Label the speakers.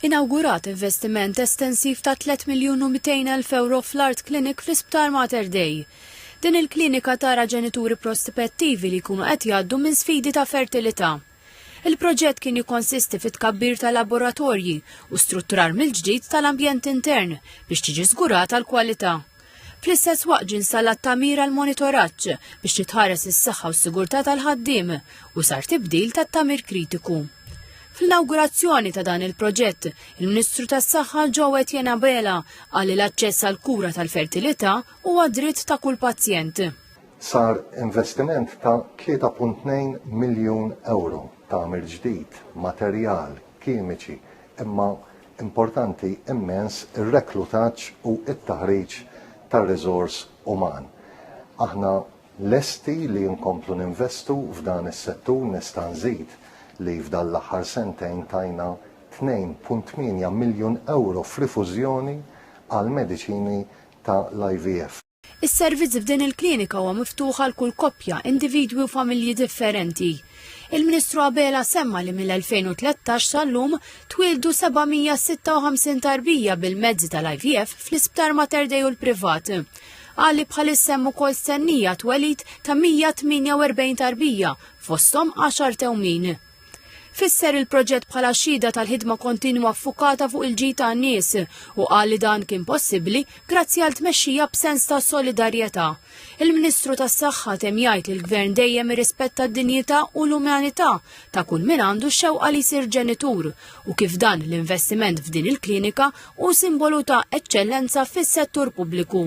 Speaker 1: Inawgurat investiment estensiv ta' 3 miljun u 200 elf ewro fl-Art Clinic fl-Isptar Mater Dei. Din il-klinika tara ġenituri prospettivi li jkunu qed jgħaddu minn sfidi ta' fertilità. Il-proġett kien jikkonsisti fit-tkabbir ta' laboratorji u strutturar mill-ġdid tal-ambjent intern biex tiġi żgurata l-kwalità. Fl-istess waqt ġie installat tagħmir għal monitoraġġ biex titħares is-saħħa u s-sigurtà tal-ħaddiem u sar tibdil tat-tagħmir kritiku. Fl-inawgurazzjoni ta' dan il-proġett, il-Ministru tas-Saħħa Joe Etienne Abela qal li l-aċċess għal kura tal-fertilità huwa dritt ta' kull pazjent. Sar
Speaker 2: investiment ta' 3.2 miljun euro ta' ġdid, materjal, kimiċi, imma importanti immens ir-reklutaġġ u t-taħriġ tar-riżors uman. Aħna lesti li nkomplu ninvestu f'dan is-settur nista' nżid li f'dan l-aħħar sentejn tajna 2.8 miljun ewro f'rifużjoni għal mediċini ta' l-IVF. Is-servizz f'din
Speaker 1: il-klinika huwa miftuħ għal kull koppja, individwi u familji differenti. Il-Ministru Abela semma li mill-2013 sal-lum twildu 756 tarbija bil-mezzi tal-IVF fl-Isptar Mater Dei u l-privat. Qal li bħalissa hemm ukoll stennija twelid ta' 148 tarbija fosthom 10 tewmin. Fisser il-proġett bħala xhieda tal-ħidma kontinwa ffukata fuq il-ġid tan-nies u qal li dan kien possibbli grazzi għal tmexxija b'sens ta' solidarjetà. Il-Ministru tas-Saħħa tem jgħid li l-Gvern dejjem irrispetta d-dinjità u l-umanità ta' kull min għandu xewqa li jsir ġenitur u kif dan l-investiment f'din il-klinika u simbolu ta' eċċellenza fis-settur pubbliku.